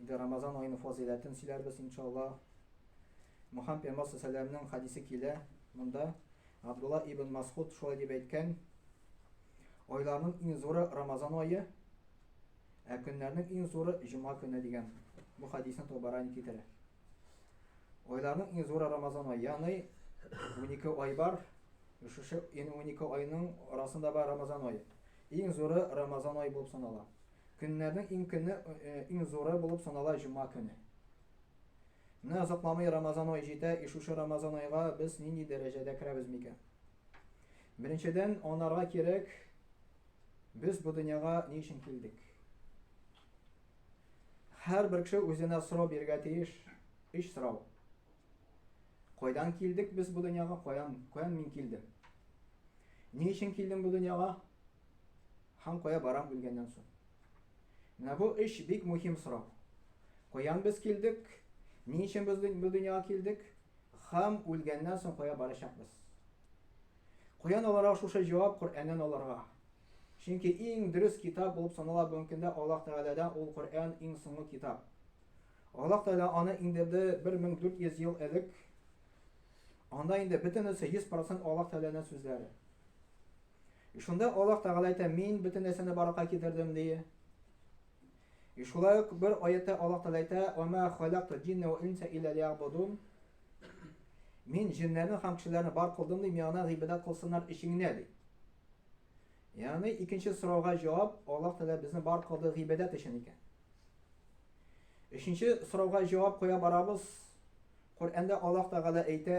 Инде Рамазан аеның фазыйләтен сөйләрбез, иншалла. Мөхәммәд пәйгамбәр сәләмнең хадисе килә. Монда Абдулла ибн Масхуд шулай дип әйткән. Айларның иң зуры Рамазан ае, ә көннәрнең иң зуры җома көне дигән. Бу хадисны Табарани китерә. Айларның иң зуры Рамазан ае, ягъни 12 ай бар. Шушы 12 айның арасында бар Рамазан ае. Иң зуры Рамазан ае булып санала. Көннәрнең иң көне, иң зуры булып санала җома көне. Менә озакламый Рамазан ае җитә, и шушы Рамазан айга без нинди дәрәҗәдә керәбез микән? Беренчедән, анарга кирәк, без бу дөньяга ни өчен килдек? Һәрбер кеше үзенә сорау бирергә тиеш, өч сорау. Кайдан килдек без бу дөньяга, каян, каян мин килдем? Ни өчен килдем бу дөньяга? Һәм кая барам үлгәннән соң? Менә бу өч бик мөһим сорау. Каян без килдек, ни өчен без бу дөньяга килдек һәм үлгәннән соң кая барачакбыз? Каян аларга шушы җавап Коръәннән аларга? Чөнки иң дөрес китап булып санала бүгенге көндә Аллаһ Тәгаләдән ул Коръән иң соңгы китап. Аллаһ Тәгалә аны иңдерде 1400 ел элек. Анда инде бөтенесе 100% Аллаһ Тәгаләнең сүзләре. И шунда Аллаһ Тәгалә әйтә, Мин бөтен нәрсәне барлыкка китердем, ди. И шулай ук бер аятта Аллаһ Тәгалә әйтә, Ва ма халакту джинна ва инса илля лиябудун. Мин җиннәрне һәм кешеләрне бар кылдым, ди, миңа гыйбадәт кылсыннар өчен генә, ди. Ягъни икенче сорауга җавап Аллаһ Тәгалә безне бар кылды гыйбадәт өчен икән. Өченче сорауга җавап куя барабыз. Коръәндә Аллаһ Тәгалә әйтә,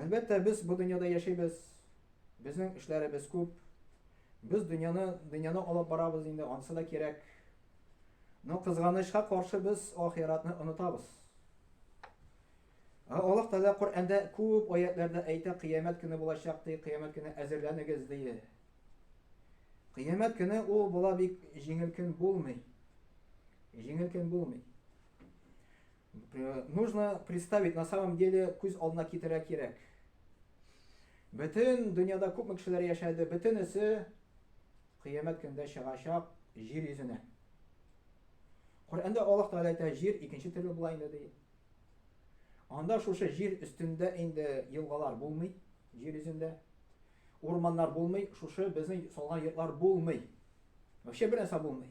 Әлбәттә, без бу дөньяда яшибез, безнең эшләребез күп, без дөньяны, дөньяны алып барабыз инде, ансы да кирәк. Но кызганычка каршы без ахиратны онытабыз. Ә Аллаһ Тәгалә Коръәндә күп аятларда әйтә, кыямәт көне булачак ди, кыямәт көне әзерләнегез ди. Кыямәт көне ул була бик җиңел көн булмый. Җиңел көн булмый. Э, нужно представить, на самом деле, күз алдына китерә кирәк. Бөтен дөньяда күпме кешеләр яшәде, бөтенесе кыямәт көндә чыгачак җир йөзенә. Коръәндә Аллаһ Тәгалә әйтә, җир икенче төрле була инде ди. Анда шушы җир өстендә инде елгалар булмый, җир йөзендә. Урманнар булмый, шушы безнең салган йортлар булмый. Вообще бер нәрсә булмый.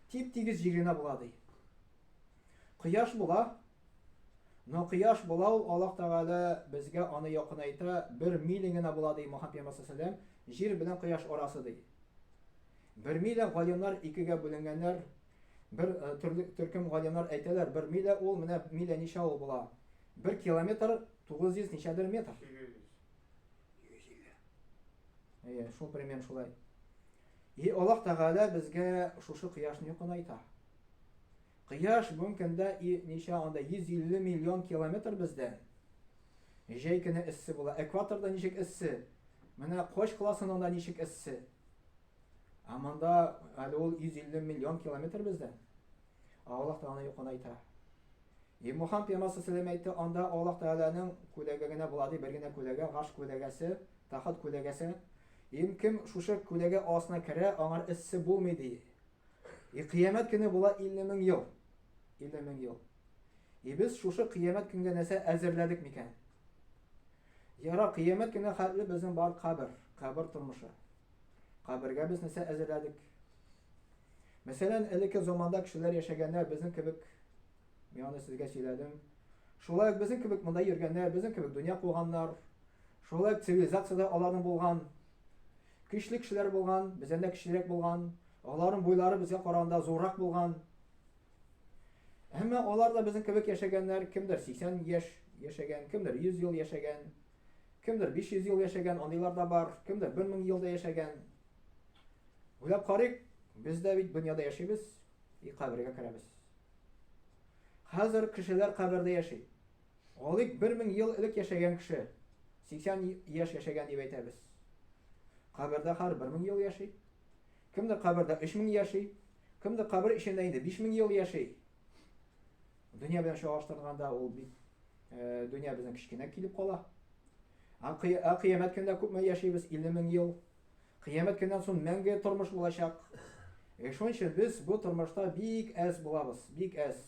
Тип-тигез җир генә була ди. Кояш була. Но кояш була ул, Аллаһ Тәгалә безгә аны якынайта, бер миля генә була, ди Мухаммад пәйгамбәр салләлләһу җир белән кояш арасы, ди. Бер миля галимнар икегә бүленгәннәр. Бер э, төрле төркем галимнар әйтәләр, бер миля ул, менә миля ничә ул була? Бер километр 900 ничәдер метр. 800. Әйе, шул примерно шулай. И Аллаһ Тәгалә безгә шушы кояшны якынайта. Кояш бүгенге көндә ничә анда 150 миллион километр бездән. Җәй көне эссе була. Экваторда ничек эссе? Менә Кош классының да ничек эссе? Ә монда әле ул 150 миллион километр бездән. Аллаһ Тәгалә юкын әйтә. И Мухаммад пәйгамбәр сәлләм әйтте, анда Аллаһ Тәгаләнең күләге генә була ди, бер генә күләге, гаш күләгәсе, тахат күләгәсе. Им кем шушы күләге астына керә, аңар эссе булмый ди. И кыямәт көне була 50 мең ел. 50 мең ел. И без шушы кыямәт көнгә нәрсә әзерләдек микән? Яра кыямәт көне хәтле безнең бар кабер, кабер тормышы. Кабергә без нәрсә әзерләдек? Мәсәлән, элекке заманда кешеләр яшәгәндә безнең кебек Мин аны сезгә сөйләдем. Шулай ук безнең кебек монда йөргәннәр, безнең кебек дөнья куганнар, шулай ук цивилизациядә аларның булган, көчле кешеләр булган, бездән дә көчлерәк булган, аларның буйлары безгә караганда зуррак булган. Әмма алар да безнең кебек яшәгәннәр, кемдер 80 яшь яшәгән, кемдер 100 ел яшәгән, кемдер 500 ел яшәгән, андыйлар да бар, кемдер 1000 ел да яшәгән. Уйлап карыйк, без дә бит дөньяда яшибез, И кабергә керәбез. Хәзер кешеләр кабердә яши. Алик 1000 ел элек яшәгән кеше 80 яшь яшәгән дип әйтәбез. Кабердә хәр 1000 ел яши. Кемдер кабердә 3000 яши, кемдер кабер эчендә инде 5000 ел яши. Дөнья белән чагыштырганда ул бит э, дөнья безнең кечкенә килеп кала. Ә кыямәт көндә күпме яшибез? 50 мең ел. Кыямәт көннән соң мәңге тормыш булачак. Шуның өчен без бу тормышта бик әз булабыз, бик әз.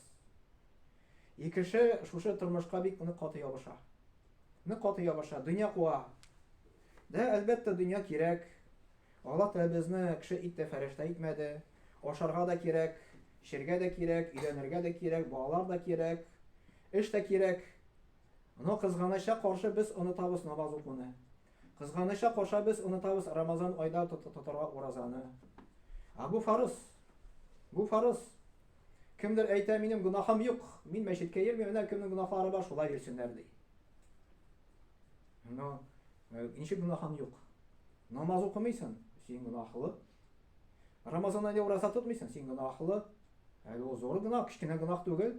И кеше шушы тормышка бик нык каты ябыша. Нык каты ябыша, дөнья куа. Дә, әлбәттә, дөнья кирәк. Аллаһ Тәгалә безне кеше итте, фәрештә итмәде. Ашарга да кирәк, эчәргә дә кирәк, өйләнергә дә кирәк, балалар да кирәк, эш тә кирәк. Но кызганычка каршы без онытабыз намаз укуны. Кызганыча карша без онытабыз Рамазан айда тотарга уразаны. А бу фарыз. Бу фарыз. Кемдер әйтә, минем гунахым юк, мин мәчеткә йөрмим, менә кемнең гунахлары бар, шулай йөрсеннәр ди. Но э, ничек гунахың юк? Намаз укымыйсың, син гунахлы. Рамазан айда ураза тотмыйсың, син гунахлы. Әле ул зур гунах, кечкенә гунах түгел.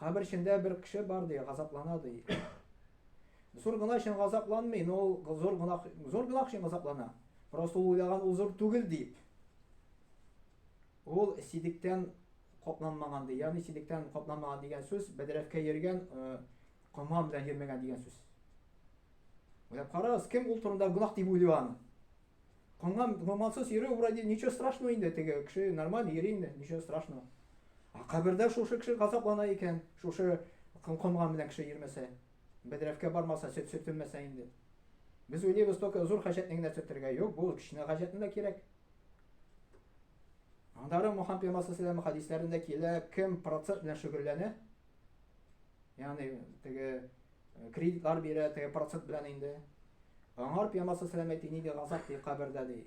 Кабер эчендә бер кеше бар ди, газаплана ди. Зур гына өчен газапланмый, но ул зур гына зур гына өчен газаплана. Просто ул уйлаган ул зур түгел дип. Ул сидектән капланмаган ди. Ягъни сидектән капланмаган дигән сүз бәдрәфкә йөргән э, кома белән йөрмәгән дигән сүз. Уйлап карагыз, кем ул турында гунах дип уйлый аны? Канган гомансыз йөрү вроде ничего страшного инде теге кеше нормально йөри инде, ничего страшного. А кабердә шушы кеше газаплана икән, шушы канган белән кеше йөрмәсә, бәдрәфкә бармаса, сөт сөртелмәсә инде. Без уйлыйбыз только зур хаҗәтне генә сөртергә. Юк, бу кечкенә хаҗәтне дә кирәк. Андары Мухаммед пәйгамбәр саллаллаху хадисләрендә килә, кем процесс белән шөгыльләнә, ягъни теге Кредитлар бирә, теге процент белән инде. Аңар пьямасы сәләмәт ини ди, газап ди, кабердә ди.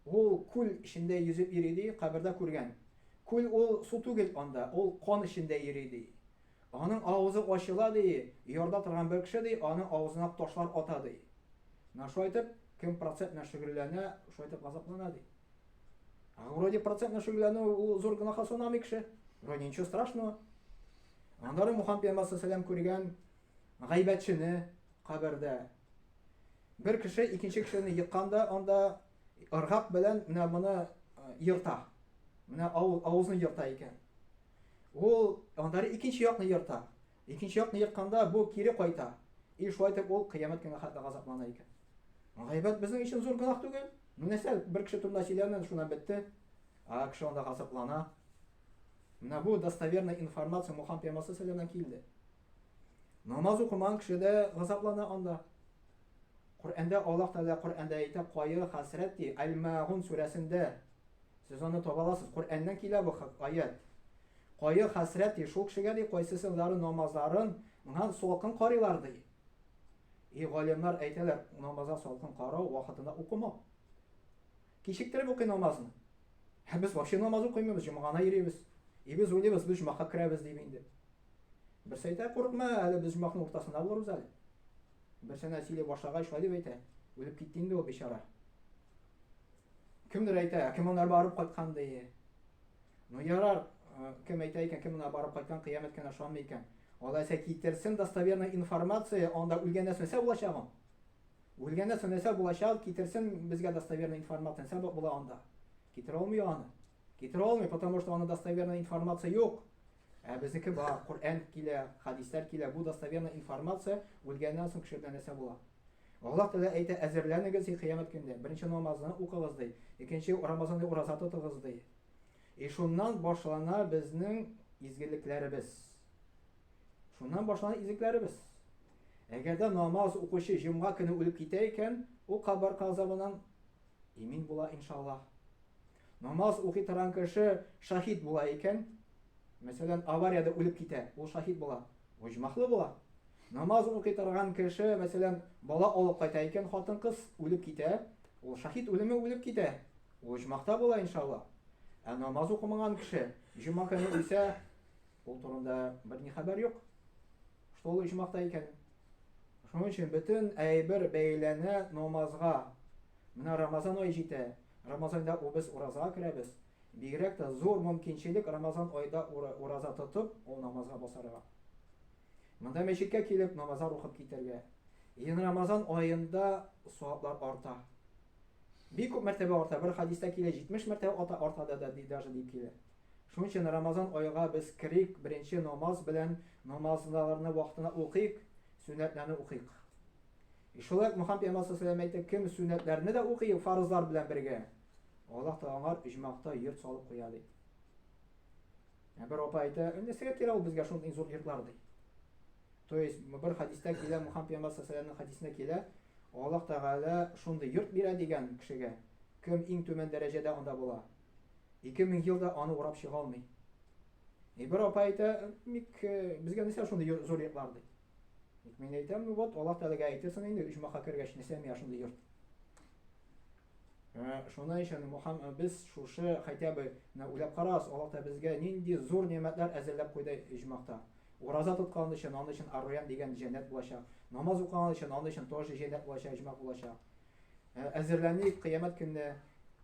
Ул күл эчендә йөзеп йөри ди, кабердә күргән. Күл ул су түгел анда, ул кан эчендә йөри ди. Аның авызы ачыла ди, ярда торган бер кеше ди, аның авызына ташлар ата ди. Менә шулай итеп, кем процент белән шөгыльләнә, шулай итеп газаплана ди. А вроде процент белән шөгыльләнү ул зур гөнаһка санамый кеше. Вроде ничего страшного. Аннары Мухан пәйгамбәр сәләм күргән гайбәтчене кабердә. Бер кеше икенче кешене йыкканда, анда ыргак белән менә моны йырта. Менә авызны йырта икән. Ул аннары икенче якны йырта. Икенче якны йыртканда бу кире кайта. И шулай итеп ул кыямәт көнгә хәтле газаплана икән. Гайбәт безнең өчен зур гөнаһ түгел. Нәрсә бер кеше турында сөйләнә, шуннан бетте. А кеше анда газаплана. Менә бу достоверный информация Мухан пәймасы сәләмә килде. Намаз укымаган кеше дә газаплана анда. Коръәндә Аллаһ Тәгалә Коръәндә әйтә, кайгы, хәсрәт ди, Әл-Мәгун сүрәсендә. Сез аны таба аласыз. Коръәннән килә бу аят. Кайгы, хәсрәт ди, шул кешегә ди, кайсысылары намазларын миңа салкын карыйлар ди. И галимнар әйтәләр, намазга салкын карау вакытында укымау. Кичектереп укый намазны. Ә без вообще намаз укыймыбыз, җомга гына йөрибез. И без уйлыйбыз, без җомакка керәбез дип инде. Берсе әйтә, курыкма, әле без җомакның уртасында булырбыз әле. Берсенә сөйли башлагач, шулай дип әйтә. Үлеп китте инде ул бичара. Кемдер әйтә, кем аңар барып кайткан ди. Ну ярар, э, кем әйтә икән, кем аңа барып кайткан, кыямәт кенә ышанмый икән. Алайса китерсен достоверный информация, анда үлгәннән соң нәрсә булачагын? Үлгәндә сөннәсә булачак, китерсен безгә достоверный информация, нсә була анда? Китерә алмый аны. Китерә алмый, потому что аны достоверный информация юк. Ә безнеке бар, Коръән килә, хадисләр килә, бу достоверный информация, үлгәннән соң кеше белән нәрсә була. Аллаһ Тәгалә әйтә, әзерләнегез и кыямәт көндә. Беренче намазны укыгыз ди, икенче Рамазанда ураза тотыгыз ди. И шуннан башлана безнең изгелекләребез. Шуннан башлана изгелекләребез. Әгәр дә намаз укучы җомга көне үлеп китә икән, ул кабер газабыннан имин була, иншаллаһ. Намаз укый торган кеше шаһит була икән, мәсәлән, авариядә үлеп китә, ул шаһит була, оҗмахлы була. Намаз укый торган кеше, мәсәлән, бала алып кайта икән, хатын-кыз үлеп китә, ул шаһит үлеме үлеп китә, ул оҗмахта була, иншаллаһ. Ә намаз укымаган кеше җомга көне үлсә, ул турында берни хәбәр юк. что ул оҗмахта икәнен. Шуның өчен бөтен әйбер бәйләнә намазга. Менә Рамазан ай җитә. Рамазанда без ураза керәбез. Бигрәк тә зур мөмкинчелек Рамазан айда ураза тотып, ул намазга басарга. Монда мәчеткә килеп намазлар укып китәргә. Ин Рамазан аенда саваплар арта. Бик күп мәртәбә арта, бер хадиста килә, 70 мәртәбә ата арта да да ди даже дип килә. Шуның өчен Рамазан айга без керик, беренче намаз белән намазларны вакытына укыйк, сөннәтләрне укыйк. И шулай ук Мөхәммәд пәйгамбәр саллаллаһу алейһи ва кем сөннәтләрне дә укый, фарызлар белән бергә, Аллаһ та аңар иҗмакта йорт салып куя ди. Ә бер апа әйтә, нәрсәгә кирәк ул безгә шундый зур йортлар ди. То есть, бер хадистә килә, Мухаммад пәйгамбәр саллаллаху хадисендә килә, Аллаһ Тәгалә шундый йорт бирә дигән кешегә, кем иң түбән дәрәҗәдә анда була, 2000 елда аны урап чыга алмый. И бер апа әйтә, ник э, безгә нәрсә шундый зур йортлар ди. Ник мин әйтәм, ну вот Аллаһ Тәгаләгә әйтерсең инде, оҗмаха кергәч, нәрсә миңа шундый йорт. Э, шуның өчен Мухаммад э, без шушы хотя бы уйлап карагыз, Аллаһ Тәгалә безгә нинди зур нигъмәтләр әзерләп куйды оҗмахта. Ураза тоткан өчен, аны өчен Ар-Райян дигән җәннәт булачак. Намаз укыган өчен, аны өчен тоже җәннәт булачак, әҗмәгъ булачак. Әзерләник, кыямәт көнне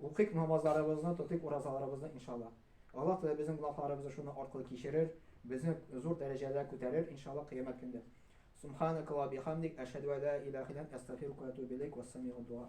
укыйк намазларыбызны, тотыйк уразаларыбызны, иншалла. Аллаһ Тәгалә безнең гөнаһларыбызны шуның аркылы кичерер, безне зур дәрәҗәләргә күтәрер, иншалла, кыямәт көндә. Субханака ва бихамдик, әшһәду ан ла илаһа илля ант, әстәгъфирука ва атубу иләйк, вассамигъ ад-дуа.